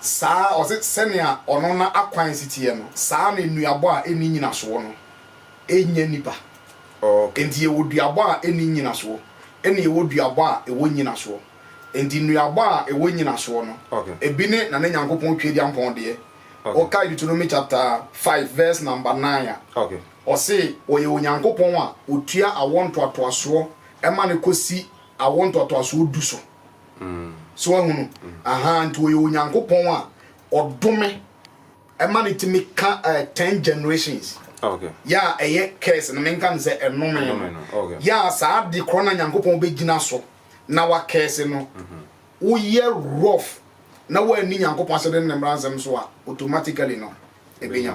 Saa ara, ɔse, sɛnea ɔno n'akwan si teɛ no, saa ara na nnuabɔ a enni nnyinasoɔ no nnya nnipa. Enti yɛwɔ duabɔ a enni nnyinasoɔ, ɛna yɛwɔ duabɔ a ɛwɔ nnyinasoɔ. Enti nnuabɔ a ɛwɔ nnyinasoɔ no, ebi ne Nane Nyankopɔn Tweadiampɔn deɛ. Wokae Deuteronomy chapter five verse number nine a, ɔse, Ɔyɛ Onyankopɔn a ɔtua awoɔ ntoatoasoɔ ma no kɔsi awoɔ ntoatoasoɔ du so. So wahu no? Aha, nti ɔyɛ Onyankopɔn a ɔdome ɛma no tumi ka eh, ten generations yɛ a ɛyɛ curse no menka no sɛ ɛnome no yɛ a saa de korɔ na Nyankopɔn bɛgyina so na wakɛse no mhm. woyɛ rough na woanni Nyankopɔn asɛde ne mmara nsɛm so a automatically no ɛbɛnya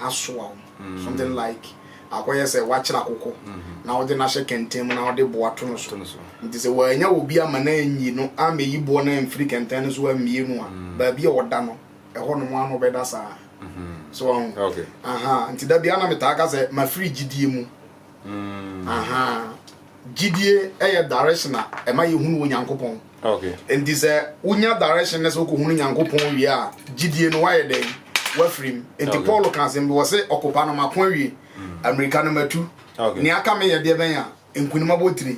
asoa wo. Something like akɔyɛ sɛ woakyere akokɔ na wode no ahyɛ kɛntɛn mu na wode boa to no so. Nti sɛ wannya obi ama no anyi no ammɛyi boɔ no amfiri kɛntɛn no so ammue no a, baabi a ɔda no, ɛhɔ nom ara na ɔbɛda saa. So wahu? Aha. Nti da biara na metaa ka sɛ mafiri gyidie mu. gyidie yɛ direction a ɛma yɛhunu wɔ nyankopɔn nti sɛ wonya direction na sɛ wokɔhunu nyankopɔn wie a gyidie no woayɛ dɛn wafirim nti paul ka asɛm bi wɔ sɛ ɔkopa no mako awie mm. amerika no matu nea aka meyɛ deɛ bɛn a nkonim abɔtire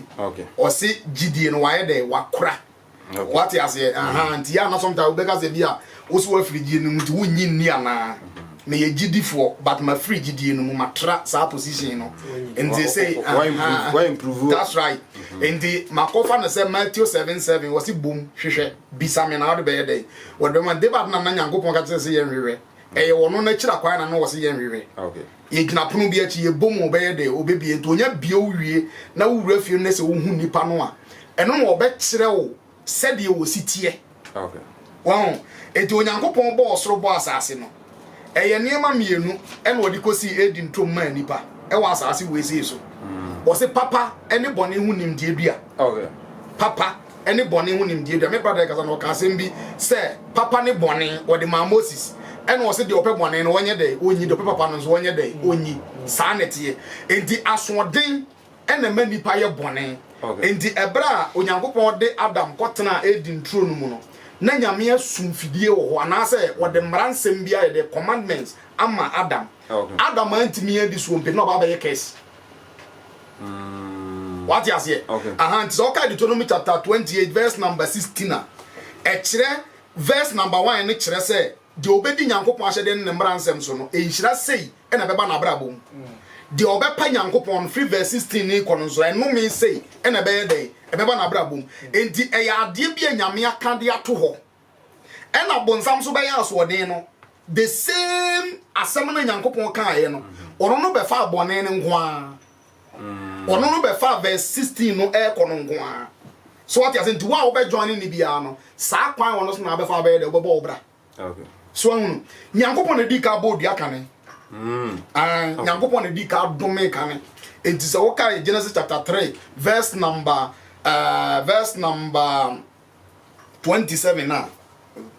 ɔse gyidie no wayɛ dɛn wakora Wate aseɛ aha nti yɛ ana sometimes wobɛka sɛ bi a wo so wafiri gyidie no mu nti wonnyi nni anaa meyɛ gyidifoɔ but mafiri gyidie no mu matra saa position no nti sɛ that's right nti makɔfa no sɛ Matthew 7 7 wɔ se bom hwehwɛ bisa me na wode bɛyɛ dɛn wɔde bɛma debate na na nyankopɔn ka kyerɛ sɛ yɛnhwehwɛ ɛyɛ wɔno no akyira kwan na no wɔ se yɛnhwehwɛ Yɛgyina pono bi akyi, yɛbɔ mu a ɔbɛyɛ dɛ, ɔbɛbie. Nti ɔnya bie wo wie na wo wura fie no na sɛ wo hu nipa no a, ɛno na ɔbɛkyerɛ wo sɛdeɛ ɔsi teɛ. Wahu? Nti Onyankopɔn bɔɔ ɔsoro bɔɔ asaase no, ɛyɛ nneɛma mmienu na ɔde kɔsii Eden turom maa nipa wɔ asaase wesee so. Ɔse papa ne bɔne ho nimdeɛ dua. Papa. ne bɔne ho nimdeɛ dua. Me brada kasa na ɔka asɛm bi sɛ papa ne bɔne wɔde maa Moses ɛna ɔsɛ deɛ ɔpɛ bɔne no wɔnyɛ dɛ ɔnyi deɛ ɔpɛ papa no nso wɔnyɛ dɛ ɔnyi saa na ɛteɛ nti asoɔden ɛna ma nipa yɛ bɔne nti ɛberɛ a Onyankopɔn de Adam kɔtena Eden turo no mu no na Nyame asum fidie wɔ hɔ anaasɛ wɔde mmara nsɛm bi ayɛ dɛ commandments ama Adam Adam antumi adi soɔ mpe na ɔba abɛyɛ curse Mm. Wate aseɛ? Okay. Aha nti sɛ ɔka Deuteronomy chapter twenty eight verse number sixteen a ɛkyerɛ verse number one ne kyerɛ sɛ deɛ ɔbɛdi Nyankopɔn ahyɛdeɛ ne ne mmara nsɛm so no nhyira sei ɛna ɛbɛba n'abrabɔ mu. Mm. Deɛ ɔbɛpa Nyankopɔn no firi verse sixteen ne kɔ no nso ɛnome sei ɛna ɛbɛyɛ dɛn ɛbɛba n'abrabɔ mu. Mm. Nti ɛyɛ adeɛ bi a Nyame aka de ato hɔ. Ɛna bonsam nso bɛyɛ asoɔden no, the same asɛm no Nyankopɔn kaeɛ no, ɔno no bɛfaa bɔne no nko ara. Ɔno no bɛfaa verse 16 no ɛrekɔ no nko ara. So wate ase nti wo a wobɛjoin ne biara no, saa kwan ɔno so na abɛfa abɛyɛ dɛ wobɛbɔ wo bra. Okay. So ahunu, Nyankopɔn na di ka bɔ odua kane. Mm. Uh, Nyankopɔn na di ka dome kane. Enti sɛ wokae Genesis chapter 3 verse number uh, verse number twenty seven a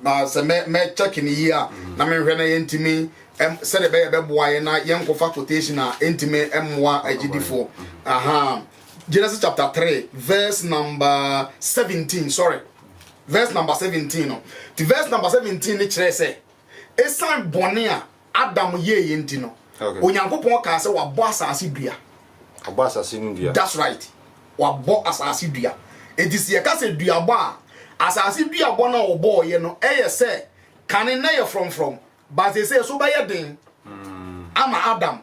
na sɛ mɛ mɛ check ne yie a mm. na mehwɛ na yɛntumi ɛm sɛdeɛ bɛyɛ bɛboa yɛ na yɛnkɔfa quotation a ɛntumi ɛmmoa agyidifoɔ aha Genesis chapter three verse number seventeen sorry verse number seventeen no ti verse number seventeen ne kyerɛ sɛ esan bɔnne a. Adam yɛɛ yɛ nti no Onyankopɔn kaa sɛ wabɔ asase dua. Wabɔ asase no dua. That's right. Wabɔ asase dua. Enti sɛ yɛka sɛ duabɔ a, asase duabɔ no a wɔbɔɔyɛ no ɛyɛ sɛ kane na yɛ frɔmfrɔm but seesei so bɛyɛ den hmm. ama Adam.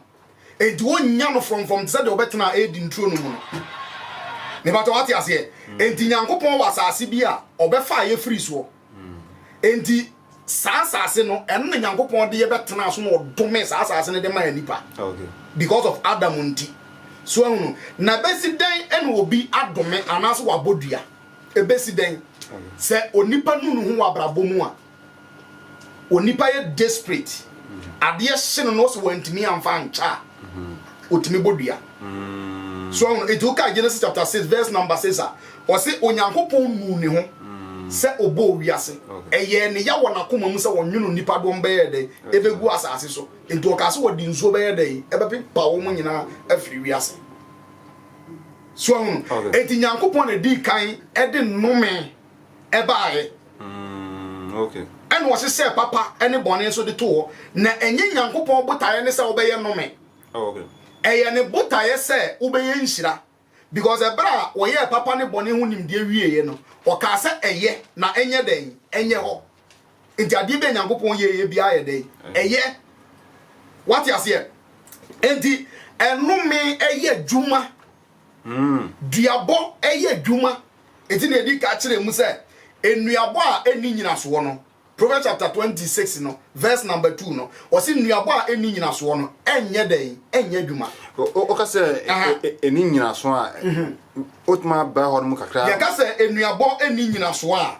Enti wɔnya no frɔmfrɔm te sɛ deɛ wɔbɛtena Eden turo no mu no. Mebatɔ wate aseɛ. Hmm. Enti Nyankopɔn wɔ asase bi a ɔbɛfa a yɛfiri soɔ. Enti saa asase no, ɛno na Nyankopɔn de yɛbɛtenaa so na ɔdomee saa asase no de maa nnipa because of Adam nti. So ahu no? Na ɛbɛsi dɛn na obi adome anaasɛ wabɔ dua? Ɛbɛsi dɛn? Sɛ onipa nu ne ho wɔ abrabɔ mu a, onipa yɛ desperate, adeɛ hye no na ɔsɛ wantumi amfa ankyɛ a, otumi bɔ dua so ɔho nti wokae Genesis chapter six verse number six a ɔse Onyankopɔn nuu ne ho sɛ ɔbɔɔ wiase ɛyɛɛ ne ya wɔ n'akoma mu sɛ ɔnwono nnipa dɔm bɛyɛ dɛn ɛbɛgu asase so nti ɔkaa sɛ wɔde nsuo bɛyɛ dɛn ɛbɛpepa wɔn nyinaa afiri wiase so ɔho nti Nyankopɔn na dii kan ɛde nnome ɛbaeɛ. Mm, okay. ɛna ɔhyehyɛɛ papa ne bɔne nso de to hɔ na ɛnyɛ nyankopɔn botaeɛ ne sɛ wobɛyɛ nnome oh, okay. ɛyɛ ne botaeɛ sɛ wobɛyɛ nhyira because ɛberɛ a wɔyɛɛ papa ne bɔne ho nimdeɛ wieeɛ no ɔkaa sɛ ɛyɛ na ɛnyɛ dɛn ɛnyɛ hɔ nti adeɛ bɛ nyankopɔn yɛeɛ biara yɛ dɛn ɛyɛ wate aseɛ nti ɛnome ɛyɛ adwuma Duabɔ yɛ adwuma. Enti nea edi kan kyerɛ mu sɛ nnuabɔ a enni nnyinasoɔ no, Proverbs chapter twenty six no verse number two no, ɔsi nnuabɔ a enni nnyinasoɔ no ɛnyɛ dɛn, ɛnyɛ adwuma. Ɔka sɛ enni nnyinasoɔ a, wotumi abra hɔ nom kakra. Yɛka sɛ nnuabɔ enni nnyinasoɔ a,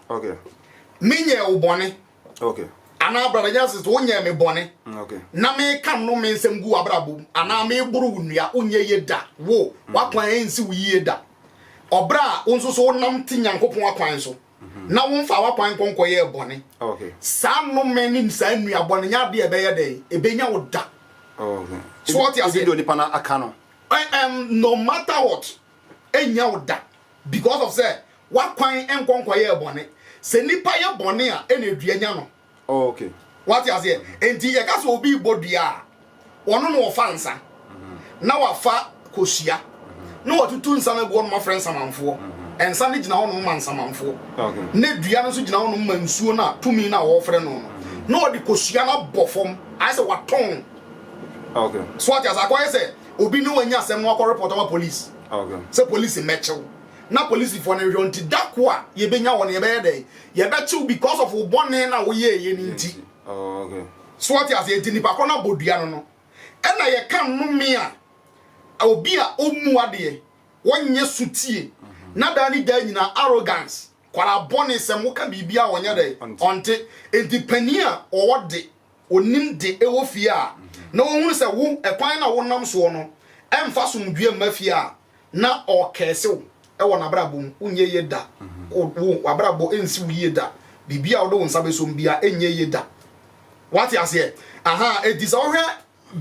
menyɛɛ wo bɔne. Okay. anaa brada nyansa sɛ wonyɛɛ me bɔne okay. na meka nnome nsɛm gu w'abrabɔ mu anaa mm. meboro wo nnua wonyɛ yie da wo mm. w'akwan ɛnsi wo yie da ɔberɛ a wo nso so wonam te nyankopɔn akwan so mm-hmm. na womfa w'akwan nkɔnkɔyɛɛ bɔne saa nnome ne saa nnuabɔ no nyɛ adeɛ ɛbɛyɛ dɛn ɛbɛnya wo da so wɔte aseɛ no aka no no matter what ɛnnya wo da because of sɛ wakwan nkɔ nkɔyɛɛ bɔne sɛ nnipa yɛ bɔne a ɛna ɛdua nya no oh, okay. wate aseɛ enti yɛka sɛ obi bɔ dua a ɔno na ɔfa nsa mhm. na wafa kosua mhm. na watutu nsa no agu ɔnom afrɛ nsamanfoɔ mhm. nsa no gyina hɔnom ma nsamanfoɔ na dua no nso gyina hɔnom ma nsuo no a tumi no a wɔfrɛ no no na ɔde kosua no abɔ fam ayɛ sɛ watɔn so ate asɛ akɔyɛ sɛ obi ne wo anya asɛm na wakɔ report ama police sɛ police mmɛkye wo na policefoɔ no nhwɛ nti da ko a yɛbɛnya wɔ no yɛbɛyɛ dɛ yɛbɛkye wo because of wo bɔne na woyɛɛyɛ no nti so wate ase nti nipa korɔ no abɔdua no no ɛna yɛka nnome a obi a ɔmmu adeɛ wɔnyɛ so tie mhm. na daa ne daa nyina arrogance kwara bɔne sɛm woka biribia ɔnyɛ dɛ ɔnte nti pani a ɔwɔ de Onim de ɛwɔ fie a, na ɔhunu sɛ wo ɛkwan no a wonam soɔ no ɛmfa asomdwoeɛ mma fie a, na ɔrekɛɛse wo wɔ n'abrabɔ mu. Wonyɛ yie da. Wo, wo, w'abrabɔ nsi wo yie da. Biribiara a wode wo nsa bɛsɔ mu biara ɛnyɛ yie da. Woate aseɛ? Ahaa, enti sɛ wohwɛ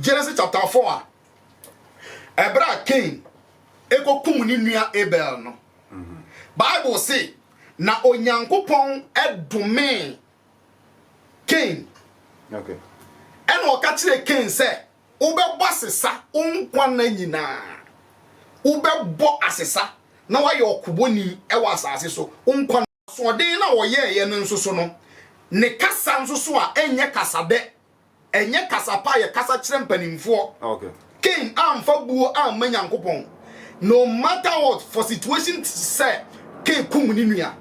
Genesis chapter 4 a, ɛberɛ a Cain ɛkɔkum ne nua Abel no, Bible se, Na Onyankopɔn domee Kain. Ɛna ɔka kyerɛɛ Kain sɛ, wobɛbɔ asesa wo nkwa nna nyinaa. Wobɛbɔ asesa na woayɛ ɔkobɔni wɔ asase so. Wo nkwa nna. Asoɔden no a ɔyɛeɛ no nso so no, ne kasa nso so a ɛnyɛ kasadɛ Ɛnyɛ kasa pa a yɛkasa kyerɛ mpanimfoɔ. Cain amfa buo amma Nyankopɔn. No matter what, for situation sɛ Cain kum ne nua.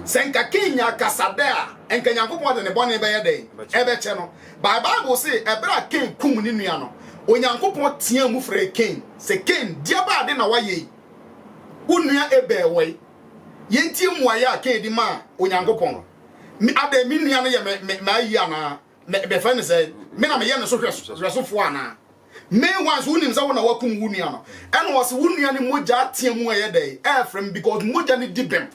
Sɛ nka Cain nyaa kasa dɛ a, nka Nyankopɔn de ne bɔne bɛyɛ dɛn? Ɛbɛkyɛ no. But Bible se, ɛberɛ a Cain kum ne nua no, Onyankopɔn teaa mu frɛɛ Cain sɛ, Cain, deɛbɛ ade na woayɛ yi? Wo nua Abel wɔ he? Yɛntie mmuaeɛ a Cain de maa Onyankopɔn. Adɛn, me nua no yɛ me ayi anaa? Me bɛfrɛ no sɛ me na meyɛ ne so hwɛsofoɔ anaa? Meanwhile nso wonim sɛ wo na wakum wo nua no. Ɛna ɔse wo nua no mogya ateɛ mu ɛyɛ dɛn ɛɛfrɛ me because mogya no di bem.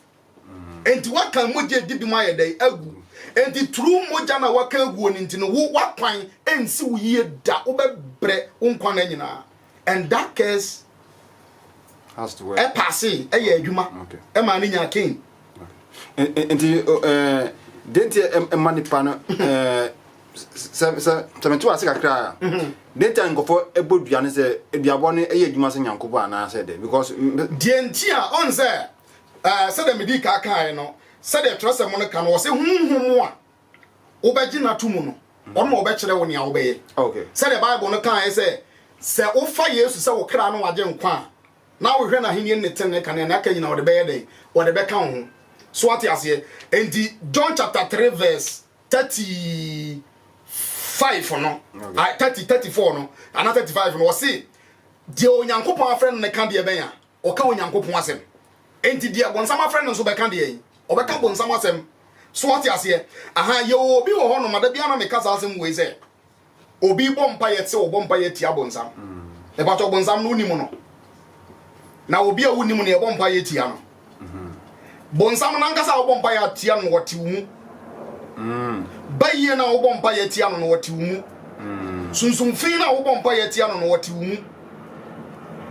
Enti waka mogya di bem ayɛ dɛn agu. Enti turu mogya na waka aguo no nti no wo wakwan ɛnsi wo yie da wobɛbrɛ wo nkwa na nyinaa. and that curse ɛpaase ɛyɛ adwuma ɛma ne nya king. nti denti ɛma nipa no sɛ sɛ sɛ mete wase kakra a mhm. denti a nkɔfɔ ɛbɔ dua no sɛ aduabɔ no ɛyɛ adwuma sɛ nyankopɔn anaasɛ dɛ because. deɛ nti a ɔn sɛ sɛdeɛ medi ka kaeɛ no sɛdeɛ twerɛsɛm no ka no wɔ sɛ honhom a wobɛgye no ato mu no, ɔno na ɔbɛkyerɛ wo nea wobɛyɛ. Sɛdeɛ Bible no kaeɛ sɛ, sɛ wofa Yesu sɛ wo kra ne w'agyenkwa a, na wohwɛ n'ahennie ne ne tenenee kane a, nea aka nyinaa wɔde bɛyɛ dɛn? Wɔde bɛka wo ho. So wate aseɛ? Enti John chapter 3 verse 35 no, ah, 30, 34 no, anaa 35 no, ɔse, Deɛ Onyankopɔn afrɛ no no ka deɛ bɛn a? ɔka Onyankopɔn asɛm. Enti deɛ bonsam afrɛ no nso bɛka deɛn? Ɔbɛka bonsam asɛm. So wate aseɛ? Aha, yɛwɔ obi wɔ hɔnom a da biara na meka saa asɛm wei sɛ, obi rebɔ mpaeɛ te sɛ ɔbɔ mpaeɛ atia bonsam. Mepakyɛ bonsam no wonim no? Na obi a wonim no yɛbɔ mpaeɛ tia no. Bonsam no ankasa a wobɔ mpaeɛ atia no, ɔte wo mu. Mm. Bayie no a wobɔ mpaeɛ atia no no, ɔte wo mu. Mm. Sunsum fi no a wobɔ mpaeɛ atia no no, ɔte wo mu.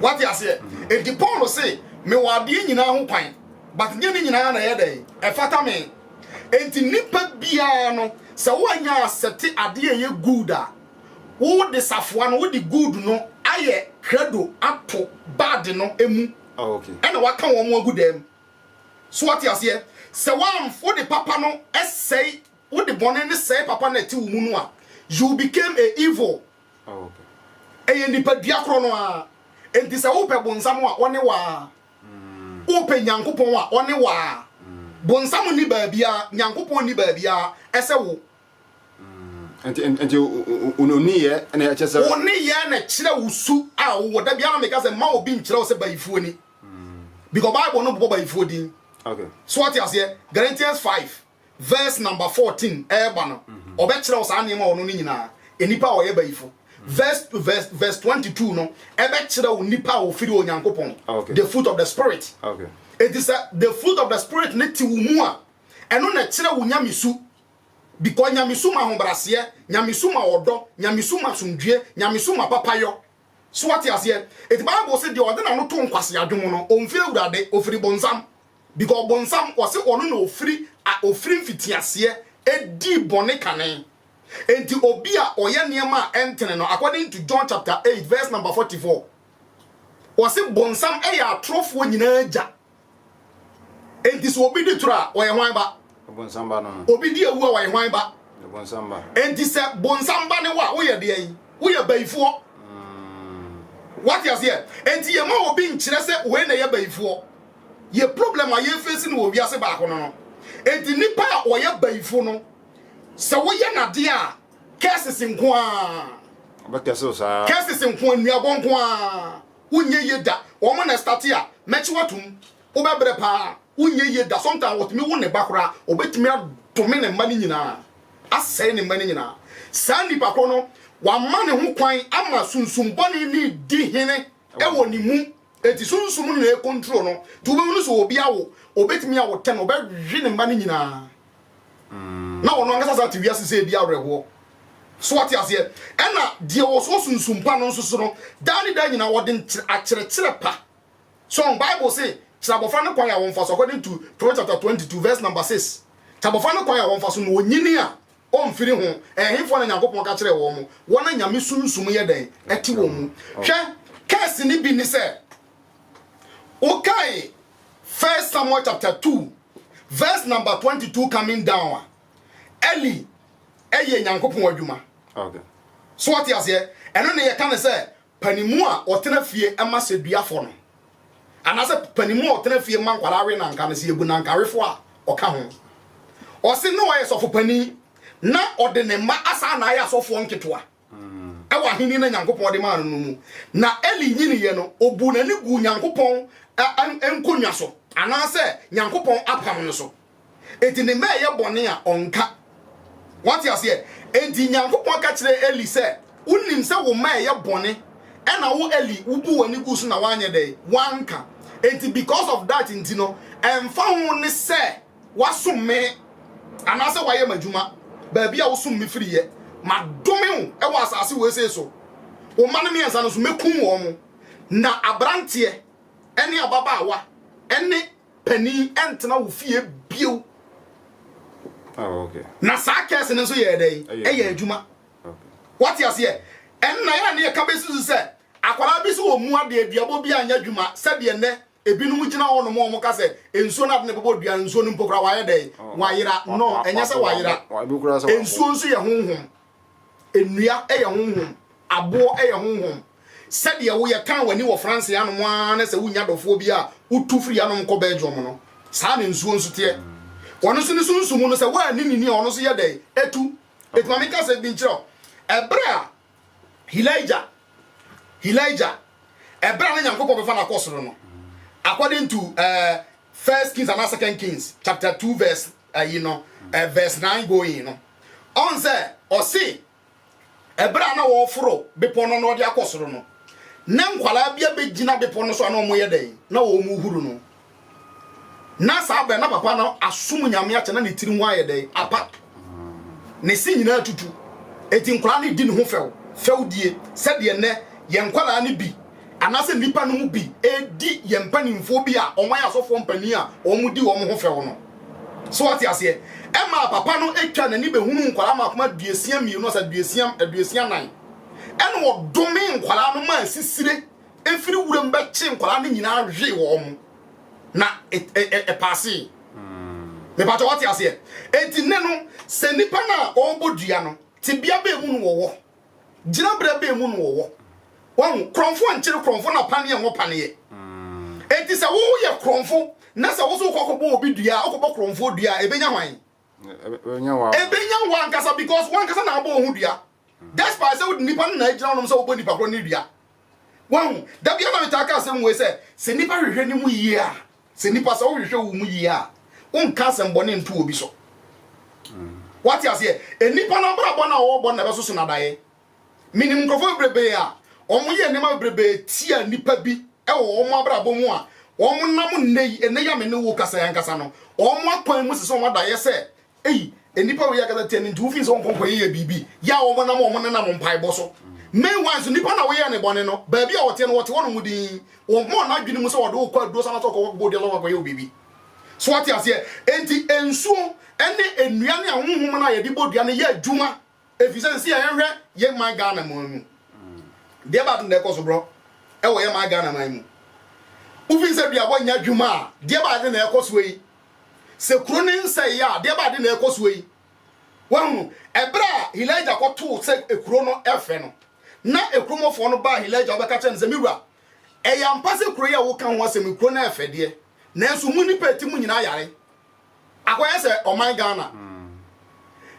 Wate aseɛ? Mm. Enti Paul se, mewɔ adeɛ nyinaa ho kwan, but nyɛ ne nyinaa na ɛyɛ dɛn? Ɛfata me. Enti nipa biara no, sɛ woanya asɛte adeɛ a ɛyɛ good a, wode safoa no, wode good no ayɛ credo ato bad no mu ɛna waka wɔn agu dɛm. So wate aseɛ? Sɛ wɔn wode papa no sɛe, wode bɔne no sɛe papa no ɛte wo mu no a, you became a evil. Ɛyɛ nipa dua korɔ no ara. Enti sɛ wopɛ bonsam a ɔne waa, wopɛ Nyankopɔn a ɔne waa. Bonsam ni baabiara, Nyankopɔn ni baabiara, ɛsɛ wo. nti oniyɛ na ɛkyɛ sɛ oniyɛ na kyerɛ wo su a wowɔ da biara meka sɛ ma obi nkyerɛ wo sɛ bayifuo ni because bible no bobɔ bayifuo din okay so ɔte aseɛ Galatians 5 verse number 14 ɛɛba no mhm. ɔbɛkyerɛ wo saa nneɛma ɔno no nyinaa nnipa a ɔyɛ bayifo mhm. verse verse verse 22 no ɛbɛkyerɛ wo nnipa a wɔfiri onyankopɔn ah, the fruit of the spirit okay eti sɛ the fruit of the spirit ne ti wo mu a ɛno na ɛkyerɛ wo nyamesu Because Nyamesu ma ahobraseɛ, Nyamesu ma ɔdɔ, Nyamesu ma asomdwie, Nyamesu ma papayɔ. So wate aseɛ? Eti Bible se deɛ ɔde n'ano to nkwasea dwom no, ɔmfiri Awurade, ɔfiri bonsam. Because bonsam, wɔse ɔno na ɔfiri, a ɔfiri mfitiaseɛ dii bɔne kane. Enti obi a ɔyɛ nneɛma a ɛntene no, according to John chapter eight verse number forty four, wɔse bonsam yɛ atorofoɔ nyinaa agya. Enti sɛ obi di toro a, ɔyɛ hwan ba? Bonsam ba no no. Obi di awu a, ɔyɛ hwan ba? Bonsam ba. Enti sɛ bonsam ba ne wo a, woyɛ deɛn? Woyɛ bayifoɔ. Mm. Wate aseɛ? Enti yɛma obi nkyerɛ sɛ wei na ɛyɛ bayifoɔ. Yɛ problem a yɛfesi no wɔ wiase baako no no. Enti nipa a ɔyɛ bayifo no, sɛ woyɛ n'adeɛ a, curses nko ara. Ɔbɛkɛse wo saa. Curses nko ara, nnuabɔ nko ara. wonyɛ yie da wɔn na ɛstate a mɛkye watom wobɛbrɛ paa wonyɛ yie da sometimes wɔtumi wo ne ba koraa wɔbɛtumi adome ne mma no nyinaa asɛe ne mma no nyinaa saa nnipa korɔ no wama ne ho kwan ama sunsum bɔne ne di hene ɛwɔ ne mu eti sunsum no na ɛkontro no nti wobɛhunu sɛ obi awo wɔbɛtumi awo tɛn wɔbɛwe ne mma no nyinaa na wɔn ankasa san te wiase sɛ ebi awerɛhoɔ. So wate aseɛ? Ɛna deɛ ɔwɔ so sunsum pa no nso so no, daa ne daa nyinaa wɔde nkyerɛ akyerɛkyerɛ pa. So Bible se, kyerɛ abɔfra no kwan a wɔmfa so, according to Proverbs chapter 22 verse number 6. Kyerɛ abɔfra no kwan a wɔmfa so na ɔnyini a, ɔmfiri ho. Ɛhefoɔ na Nyankopɔn ka kyerɛɛ wɔn? Wɔn a Nyame sunsum yɛ dɛn? Ɛte wɔn mu. Hwɛ, curse no bi ne sɛ, wokae First Samuel chapter 2 Verse number twenty two coming down a, Eli yɛ Nyankopɔn adwuma. Okay. So what you say? Ɛno na yɛka ne sɛ panimu a ɔtena fie ma sɛ duafo no. Anaasɛ panimu a ɔtena fie ma nkwadaa we nanka no sɛ yɛbu nankawefo a ɔka ho. Ɔse na ɔyɛ sɔfo panin na ɔde ne mma asan na ayɛ asɔfoɔ nketewa. ɛwɔ ahenni no Nyankopɔn de maa no no mu. Na Eli nyiniiɛ no, ɔbuu n'ani guu Nyankopɔn nkonnwa so, anaasɛ Nyankopɔn apam no so. Enti ne mma ɛyɛ bɔne a, ɔnka. Wate aseɛ? Enti Nyankopɔn ka kyerɛɛ Eli sɛ, Wonim sɛ wo mma ɛyɛ bɔne, ɛna wo Eli, wobuu w'ani guu so na woanyɛ dɛn? Woanka. Enti because of that nti no, ɛmfa ho ne sɛ, Woasom me anaasɛ woayɛ m'adwuma, baabi a wosom me firi yɛ. Madome wo wɔ asase wesee so. Wo mma no mmiɛnsa no nso, mɛkum wɔn. Na aberanteɛ ne ababaawa ne panin ntena wo fie bio. Na saa kɛse no nso yɛɛ dɛn? Ɛyɛɛ adwuma. Woate aseɛ? Ɛnna yɛn a na yɛka bɛsusu sɛ akwadaa bi so wɔ mu adeɛ, duabɔ bi anyɛ adwuma sɛdeɛ nnɛ Ebinom gyina hɔnom a wɔka sɛ, Nsuo no ade na ɛbobɔ dua no, nsuo no mpo koraa wayɛ dɛn? Wayera. No, ɛnyɛ sɛ wayera. Nsuo nso yɛ honhom. Nnua yɛ honhom. Aboɔ yɛ honhom. Sɛdeɛ woyɛ tan w'ani wɔ France hanom ara na sɛ wonya dɔfoɔ bi a wotu firi hanom kɔ Belgium no, saa na nsuo nso teɛ. Ɔno nso ne sunsum no, sɛ woanni no ni a, ɔno nso yɛ dɛn? Ɛtu. Enti ma menka asɛm bi nkyerɛ wo. Ɛberɛ a Hilaija, Hilaija, ɛberɛ a na Nyankopɔn bɛfa no akɔ soro no, according to uh, First Kings and Second Kings chapter two verse uh, you know, uh, verse nine going no, ɔn sɛ ɔse ɛberɛ a na wɔforo bepɔ no na ɔde akɔ soro no, na nkwadaa bi abɛgyina bepɔ no so a na wɔyɛ dɛn na wɔn huru no. Na saa bɛ na papa no asom nyame akyɛ na ne tiri ho ayɛ dɛn apa ne se nyinaa tutu eti nkwadaa no di ne ho fɛw fɛwdie sɛdeɛ nnɛ yɛn nkwadaa no bi anaasɛ nnipa no mu bi edi yɛn mpanimfoɔ bi a wɔn ayɛ asɔfoɔ mpanin a wɔn di wɔn ho fɛw no so wate aseɛ ɛma papa no atwa n'ani bɛhunu nkwadaa ma akoma aduasia mmienu asa aduasia aduasia nan ɛna ɔdome nkwadaa no ma asisire Efiri wuram bɛkye nkwadaa no nyinaa hwee wɔn na ɛpaasee. Mepatɔ wɔte aseɛ. Enti nnɛ no, sɛ nnipa no a ɔrebɔ dua no, tebea bɛɛ mu no wɔwɔ, gyinabrɛ bɛɛ mu no wɔwɔ. Wahu, korɔmfo nkyere korɔmfo na paneɛ nwo paneɛ. Enti sɛ wo yɛ korɔmfo na sɛ wo so wokɔ kɔbɔ obi dua a, wokɔbɔ korɔmfoɔ dua a, ɛbɛnya hwan? Ɛbɛnya wo ankasa because wankasa na abɔ wo ho dua. Despite sɛ wode nnipa no na agyina hɔnom sɛ wobɔ nnipa korɔ ne dua. Wahu, da biara na metaa ka asɛm wei sɛ, sɛ nnipa hwehwɛ ne mu yie a, sɛ nnipa sɛ wohwehwɛ wo mu yie a, wonka asɛm bɔne nto obi so. Wate aseɛ? Nnipa no abrabɔ no a wɔbɔ na ɛbɛsoso no adaeɛ. Menim nkurɔfoɔ bebrebee a wɔyɛ nneɛma bebrebee tia nnipa bi wɔ wɔn abrabɔ mu a wɔnam nnɛ yi, nnɛ yi a me ne wo kasa yi ankasa no, wɔn akwan mu sɛ sɛ wɔn adaeɛ sɛ Ei, nnipa wei ankasa tia nti wofii sɛ wɔnkɔ nkɔyɛyɛ biribi yɛ a wɔn nam wɔn nenam mpaebɔ so. Main one nso nnipa na woyɛ ne bɔne no, baabi a wɔteɛ no wɔte hɔ nom din. Wɔmma wɔn adwene mu sɛ wɔde wo kɔ aduro so anaasɛ wɔkɔ kɔbɔ dua so akɔyɛ wo biribi. So ate aseɛ? Enti nsuo ne nnua ne ahonhom no a yɛde bɔ dua no yɛ adwuma Efisɛ nse a yɛhwɛ yɛn man Ghana mu no, deɛ baako na ɛkɔ so borɔ wɔ yɛn man Ghana man mu. Wofi nsɛ dua hɔ nya adwuma a, deɛ baade na ɛkɔ soɔ yi. Sɛ kuro no nsɛe a, deɛ baade na ɛkɔ soɔ yi. Wahunu, ɛberɛ a Hilaija kɔtoo sɛ ekuro no ɛfɛ no, na ekuromɔfoɔ no baa Hilaija hɔ bɛka kyerɛ no sɛ, Me wura, ɛyɛ ampa sɛ kuro yi a woka ho asɛm yi, kuro no ɛfɛ deɛ, nanso mo nnipa a ɛte mu nyinaa yare. Akɔyɛ sɛ ɔman Ghana.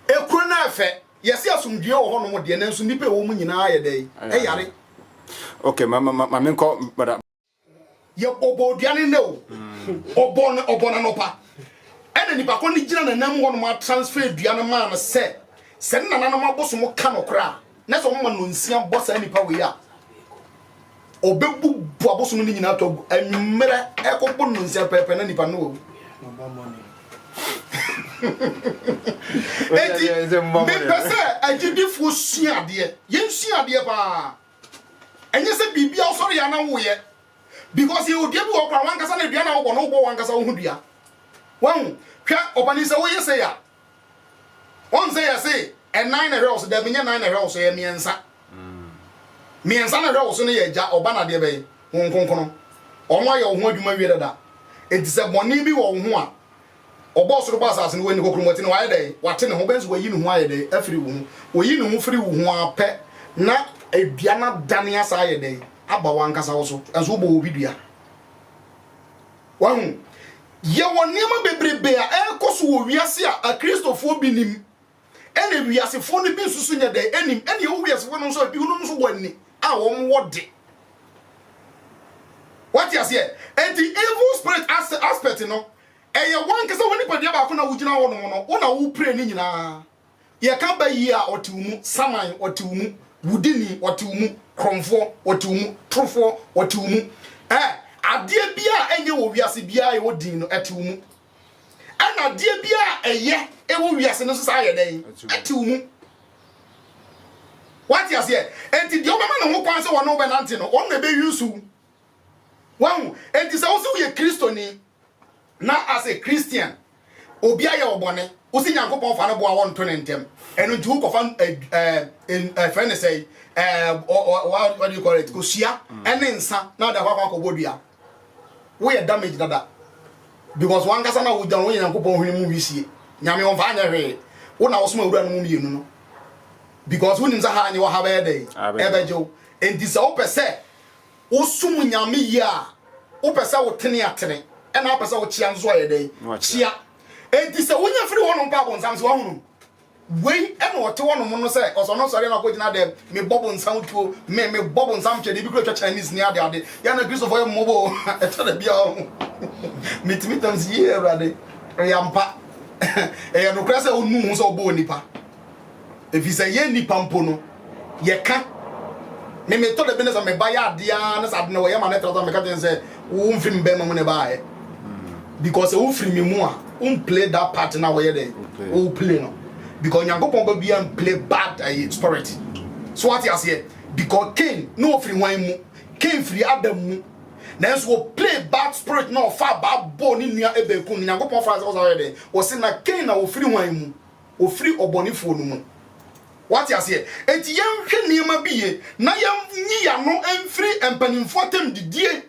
Ekuro no ɛfɛ. Yɛse asomdwie wɔ hɔ nom deɛ nanso nnipa ɛwɔ mu nyinaa ayɛ dɛn? Ɛyare. Okay ma ma ma menkɔ bada. Yɛ ɔbɔ odua no nnɛ o. Ɔbɔ no ɔbɔ no anɔpa. Ɛna nipa koro no gyina nanam hɔ nom a transfer dua no maa no sɛ sɛ ne nananom abosom ka no koraa. Na sɛ wɔma nnɔnsia bɔ saa nipa wei a, ɔbɛbubu abosom no nyinaa to agu. Anwummerɛ ɛkɔbɔ nnɔnsia pɛɛpɛ na nipa no wawu. Enti mepɛ sɛ agyidifoɔ sua adeɛ. Yɛnsua adeɛ paa. Ɛnyɛ sɛ biribi a wosɔre yɛ na woyɛ. Because yɛwɔ dua bi wɔ kora wankasa na dua na wobɔ no wobɔ wankasa wo ho dua. Wahu, hwɛ ɔpanin sɛ woyɛ sɛ yɛ a, Wɔn sɛ yɛse ɛnan na ɛhwɛ wo so, dabi nyɛ nan na ɛhwɛ wo so, ɛyɛ mmiɛnsa. Mmiɛnsa na ɛhwɛ wo so no yɛ Agya, Ɔba na deɛ bɛyɛ Honhom Kronkron. Wɔn ayɛ wo ho adwuma awie dada. Enti sɛ bɔne bi wɔ wo ho a, Ɔbɔɔ soro bɔɔ asase no, Wanni kokuromoti no, Wayɛ dɛn? Wate ne ho. Wobɛhu sɛ Wayi ne ho ayɛ dɛn? Afiri wo ho. Oyi ne ho firi wo ho ara pɛ na dua no adane asan ayɛ dɛn? Aba w'ankasa wo so. Nanso wobɔɔ obi dua. Wahu? Yɛwɔ nneɛma bebrebe a ɛrekɔ so wɔ wiase a Akristofoɔ bi nim, ɛna wiasefoɔ no bi nso so nyɛ dɛn anim, ɛna ɛwɔ wiasefoɔ no nso a binom nso wɔ ani a wɔn wɔ de. Wate aseɛ? Enti evil spirit aspect no, ɛyɛ wɔn ankasa wɔn nipadua baako na wogyina hɔ nom no, wo na wopire ne nyinaa. Yɛka bayie a, ɔte wo mu, saman, ɔte wo mu, wudini, ɔte wo mu, korɔmfoɔ, ɔte wo mu, torofoɔ, ɔte wo mu. Ɛɛ, adeɛ biara a ɛnyɛ wɔ wiase biara a ɛwɔ din no, ɛte wo mu. Ɛna adeɛ biara a ɛyɛ ɛwɔ wiase no nso saa yɛ dɛn? Ɛte wo mu. Wate aseɛ? Enti deɛ wobɛma ne ho kwan sɛ wɔne wobɛnante no, wɔn na ɛbɛyi nsu. Wahu? Enti sɛ wo sɛ woyɛ Kristoni, Na as a Christian, obi ayɛ wo bɔne, wose Nyankopɔn fa no boa wo nto ne ntɛm, ɛno nti wokɔfa ɛfrɛ ne sɛ what do you call it, kosua ɛne mm. nsa na wode akɔ akɔbɔ dua. Woyɛ damage dada because wankasa na wogya no woyɛ Nyankopɔn hwene mu wisie. Nyame ɔmfa anyɛ hwee. Wo na wosoma awura no mu mmienu no because wonim sɛ ha anyɛ wɔ ha bɛyɛ dɛn ɛbɛgye wo. Enti sɛ wopɛ sɛ wosom Nyame yie a, wopɛ sɛ wotene atene, ɛna wopɛ sɛ wokyea nso ayɛ dɛn? Kyea. Enti sɛ wonya firi hɔnom mpo a, bonsam sɛ wahu no. Wei ɛna ɔte hɔnom no sɛ ɔsɛ ɔno sɔre na ɔkɔgyina dɛm, mebɔ bonsam tuo, me mebɔ bonsam twɛdeɛ, ebi kura twa Chinese ne ade ade. Yɛn na Kristofoɔ yɛ mmɔbɔ o, ɛtɔ da bi a ɔho. Metumi tam sɛ yie Awurade, ɛyɛ ampa, ɛyɛ nokorɛ sɛ ɔnnu ho sɛ ɔbɔɔ nipa. Efisɛ yɛn nnipa mpo no, yɛka. Me, metɔ da bi na sɛ me ba yɛ ade ara na sɛ ade na wɔyɛ ma no tratra, meka kyerɛ no sɛ, wo mfiri me bɛrima mu na ɛbaeɛ. Because sɛ wofiri me mu a, womplay that part na wɔyɛ dɛ, woplay no. Because Nyankopɔn ba biara mplay bad ɛyi spirit. So wate aseɛ? Because Cain, na ɔfiri hwan mu? Cain firi Adam mu. Nanso ɔplay bad spirit na ɔfaa baa bɔɔ ne nua Abel kum no. Nyankopɔn faa sɛ ɔsan yɛ dɛn? Ɔse na Cain na ɔfiri hwan mu? Ɔfiri ɔbɔnefoɔ no mu. Wate aseɛ? Enti yɛnhwɛ nneɛma bi yie na yɛnyi yɛn ano mfiri mpanimfoɔ atam didie.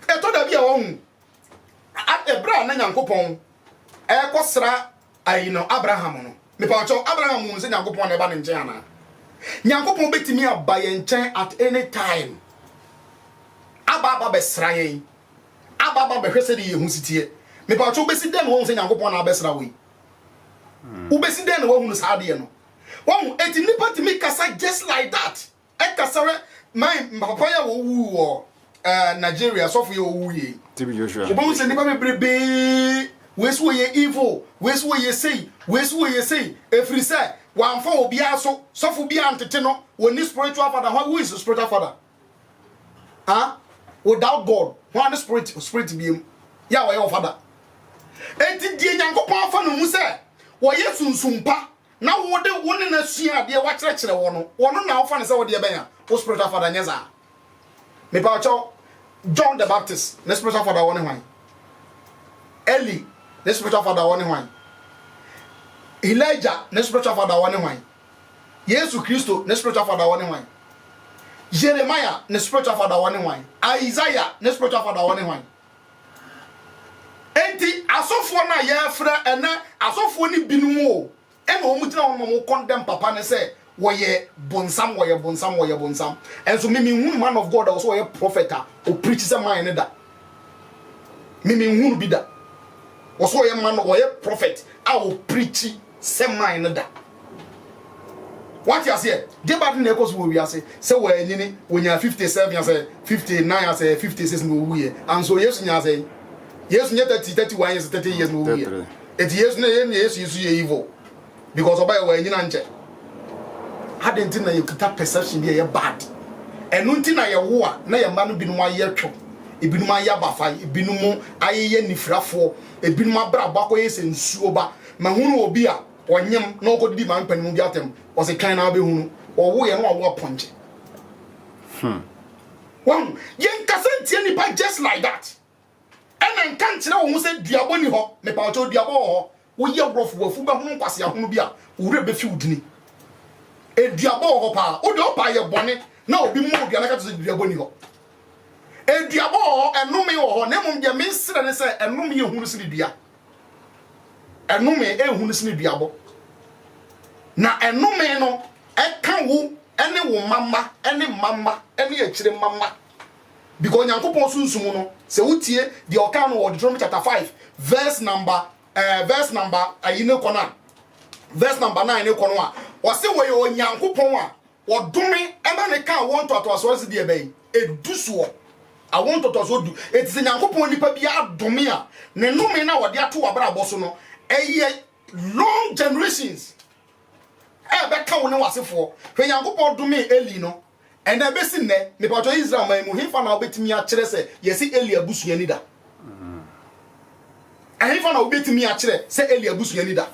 Ɛtɔ da bi a wɔhu ɛberɛ a na Nyankopɔn ɛrekɔsra ayi no Abraham no. Mepa ɔkyɛw, Abraham hunu sɛ Nyankopɔn na ɛba ne nkyɛn anaa? Nyankopɔn bɛtumi aba yɛn nkyɛn at any time aba aba bɛsra yɛn. Aba aba bɛhwɛ sɛdeɛ yɛn ho si teɛ. Mepaakyɛw wobɛsi dɛn na woahu sɛ Nyankopɔn na abɛsra wo yi? Wobɛsi dɛn na woahu no saa adeɛ no? Wahu? Enti nnipa tumi kasa just like that. Ɛkasa rɛ, my papa yi a wɔwuu wɔ eh, Nigeria, sɔfo yi a wɔwuu yei. TB Joshua. Wobɛhu sɛ nnipa bebrebee, wei so wɔyɛ evil, wei so wɔyɛ sei, wei so wɔyɛ sei, ɛfiri sɛ wɔamfa obiara so, sɔfo biara ntete no, wɔnni spiritual father, who is spiritual father? ah without God hwan ne spirit spirit biem yɛ a wɔyɛ ɔfada enti deɛ Nyankopɔn afa no mu sɛ wɔyɛ sunsum pa na wode wo ne no sua adeɛ wakyerɛkyerɛ wɔ no wɔ no na wofa no sɛ wodeɛ bɛn a wo spiritual father nyɛ saa mepa ɔkyɛw John the Baptist ne spiritual father wɔ ne hwan Eli ne spiritual father wɔ ne hwan Elijah ne spiritual father wɔ ne hwan Yesu Christo ne spiritual father wɔ ne hwan? Jeremiah ne spiritual father wɔ ne hwan? Isaiah ne spiritual father wɔ ne hwan? Enti asɔfoɔ no a yɛfrɛ ɛnɛ asɔfoɔ no binom o ɛna wɔn gyina hɔ nom condemn papa ne sɛ wɔyɛ bonsam wɔyɛ bonsam wɔyɛ bonsam ɛnso me menhunu man of God a wɔsɛ wɔyɛ prophet a ɔpreach sɛ man no da me menhunu bi da wɔsɛ wɔyɛ man wɔyɛ prophet a ɔpreach sɛ man no da. Wate aseɛ? Deɛ ba de na ɛkɔ so wɔ wiase sɛ wɔanyini wɔnyaa 57 asɛ 59 asɛ 56 na ɔwuiɛ anso Yesu nyaa sɛ Yesu nyɛ 30 31 years 30 years na ɔwuiɛ ɛti Yesu na yɛn Yesu Yesu yɛ evil because ɔba yɛ wɔanyini ankyɛ adɛn nti na yɛkita perception bi a ɛyɛ bad ɛno nti na yɛwo a na yɛn mma no binom ayɛ twɛ ebinom ayɛ abafae ebinom ayeyɛ nifirafoɔ ebinom abrabɔ akɔyɛ sɛ nsuo ba Mahunu obi a ɔnyem na ɔkɔdidi maa mpanimu bi atɛm, ɔse twɛn na wobɛhu no, ɔwoeɛ na wawo apɔnkye. Hmm. Wahu, yɛnkasa ntia nnipa just like that. Ɛna nka nkyerɛ wo ho sɛ duabɔ ni hɔ, mepa wo kyɛw duabɔ wɔ hɔ, woyɛ rɔfo wafu bɛhono nkwasea hono bi a, wo werɛ bɛfi wo dini. Eduabɔ wɔ hɔ paa, wo deɛ ɔpa ayɛ bɔne na obi mmɔ odua na ka kyerɛ sɛ duabɔ ni hɔ. Eduabɔ wɔ hɔ, ɛnome wɔ hɔ, na mmom deɛ mesrɛ ne sɛ ɛnome yɛ hunu sene dua. Ɛnome yɛ hunu sene duabɔ. Na ɛnome no ɛka wo ne wo mma mma ne mma mma ne akyire mma mma. Because Nyankopɔn sunsum no sɛ wotie deɛ ɔkaa no wɔ Deuteronomy chapter 5 verse number eh, verse number ayi ne kɔ no a verse number 9 ne kɔ no a ɔse wɔyɛ Onyankopɔn a Wɔdome ma no ka awo ntoatoasoɔ ase deɛ bɛn? Edu soɔ. Awo ntoatoasoɔ du. Enti sɛ Nyankopɔn nipa bi adome a, ne nnome no a ɔde ato w'abrabɔ so no, ɛyɛ long generations a ɛbɛka wo ne w'asefoɔ. Hwɛ Nyankopɔn domee Eli no, ɛnna ɛbɛsi nnɛ, mepatwɔ Israel man mu, hefa na wobɛtumi akyerɛ sɛ yɛse Eli abusua ni da? ɛhefa na wobɛtumi akyerɛ sɛ eli abusua ni da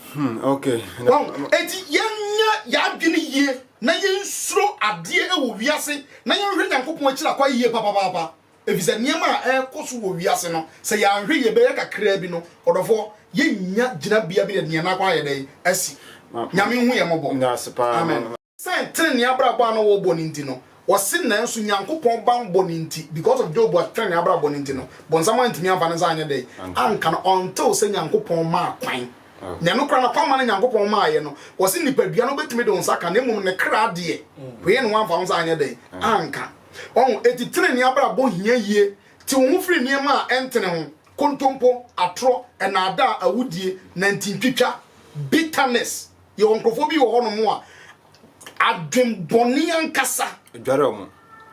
enti yɛnyɛ yɛadwene yie na yɛnsuro adeɛ wɔ wiase na yɛnhwɛ nyankopɔn akyira kwa yie papapaapa ɛfiri sɛ nneɛma a ɛrekɔ so wɔ wiase no sɛ yɛanhwɛ yie bɛyɛ kakraa bi no ɔdɔfoɔ yɛnya gyinabea bi na deɛ nakɔ ayɛ dɛn asi nyame hu yɛ mmɔbɔ amen Sɛ trenee abrabɔ a na wɔbɔ no nti no, ɔse nanso Nyankopɔn banbɔ no nti, because of Job trenee abrabɔ no nti no, bonsam antumi amfa ne nsa anyɛ dɛn anka no until sɛ Nyankopɔn maa kwan. Na ɛno koraa no kwan ma no Nyankopɔn maaeɛ no, wɔse nipadua no wobɛtumi de wo nsa ka na mmom ne kra deɛ, wei no woamfa wo nsa anyɛ dɛn anka. Wahu? Enti trenee abrabɔ hia yie. Te wo ho firi nneɛma a ɛntene ho, kontompo, atorɔ, nnaadaa, awudie, nantintwitwa, bitterness, Yɛwɔ nkurɔfoɔ bi wɔ hɔ nom a, adwembɔne ankasa. Dware wɔn.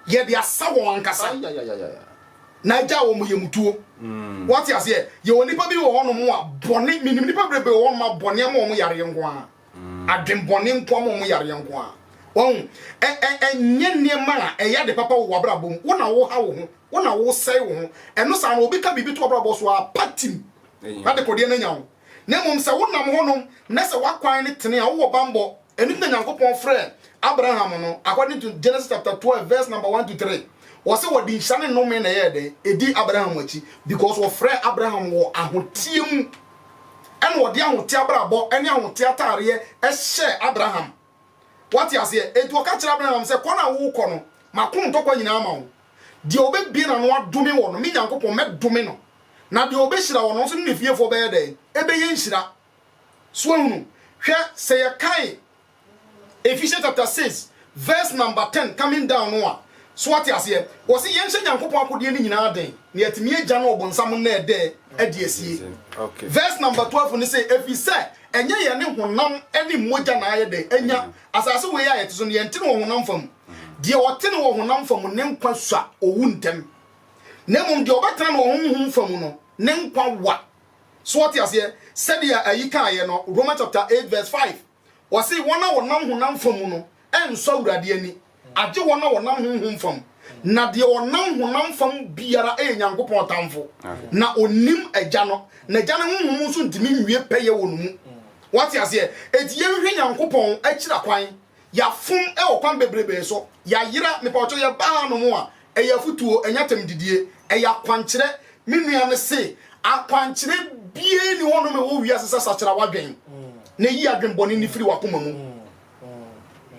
Yɛde asa wɔn ankasa. Na agya wɔn yɛ mutuo. Mm. Wɔte aseɛ, yɛwɔ nipa bi wɔ hɔ nom a, bɔne, menim nipa bebrebe wɔ hɔ nom a, bɔne ama wɔn yareɛ nko ara. Mm. Adwembɔne nko ama wɔn yareɛ nko ara. Wɔn, ɛnyɛ nneɛma a ɛyɛ ade papa wɔ w'abrabɔ mu. Wo na wo ha wo ho, wo na wo sɛe wo ho. Ɛno saa no, obi ka biribi to w'abrabɔ so a, patim. Na de kodeɛ no anya wo. Na mmom sɛ wonam hɔ nom, na sɛ w'akwan no tene a, wowɔ bammɔ. Ɛno nti na Nyankopɔn frɛɛ Abraham no, according to Genesis chapter twelve verse number one to three, ɔse wɔde nhyira ne nnome na ɛyɛɛ dɛn? Ɛdii Abraham akyi, because wɔfrɛɛ Abraham wɔ ahoteɛ mu, ɛna ɔde ahoteɛ abrabɔ ne ahoteɛ ataareɛ hyɛɛ Abraham. Woate aseɛ? Enti ɔka kyerɛɛ Abraham sɛ, Kɔ no a worekɔ no, mako ntɔkwa nyinaa ama wo. Deɛ ɔbɛbue n'ano adome wo no, me Nyankopɔn, mɛdome no, na deɛ ɔbɛhyira wo no, ɔnso ne ne fiefoɔ bɛyɛ dɛn? Ɛbɛyɛ nhyira. So woahunu? Hwɛ, sɛ yɛkan Ephesians chapter 6 verse number 10 coming down no a, so woate aseɛ? Wɔse yɛnhyɛ Nyankopɔn akodeɛ no nyinaa den, na yɛatumi agya no ɔbonsam nnɛɛdɛɛ adi asie. Verse number 12 no se, Ɛfiri sɛ Ɛnyɛ yɛne honam ne mogya na ayɛ dɛn anya asase wei a yɛte so no, yɛnte no wɔ honam fam. Deɛ ɔte no wɔ honam fam ne nkwa sua owu ntɛm, na mmom deɛ ɔbɛtena no wɔ honhom fam no, ne nkwa wa. So wɔte aseɛ? Sɛdeɛ ayi kaeɛ no, Romans chapter eight verse five, ɔse wɔn a wɔnam honam fam no nsɔ Awurade ani. Agye wɔn a wɔnam honhom fam. Na deɛ ɔnam honam fam biara yɛ Nyankopɔn tamfo, na ɔnnim Agya no, na Agya no honhom nso ntumi nwie pɛyɛ wɔ ne mu. Wate aseɛ? Enti yɛnhwehwɛ Nyankopɔn akyiri akwan. Yɛafom wɔ kwan bebrebee so. Yɛayera. Mepawkyɛw, yɛbaa ha nom a, ɛyɛ afotuo, ɛnyɛ atɛmdidie. Ɛyɛ akwankyerɛ. Me nua no se, Akwankyerɛ biara nni hɔ nom wɔ wiase sɛ sakyera w'adwen, na yi adwen bɔne no firi w'akoma mu.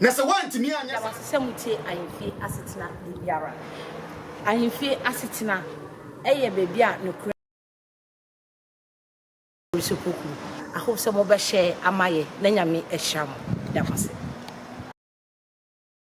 Na sɛ woantumi anyɛ saa. Yɛda wo ase sɛ mutie Ahemfie Asetena da biara. Ahemfie Asetena yɛ baabi a nokorɛ. Abusuakuo. I hope sɛ mobɛhyɛ ama yɛn na Nyame ahyira mo. Yɛda mo ase.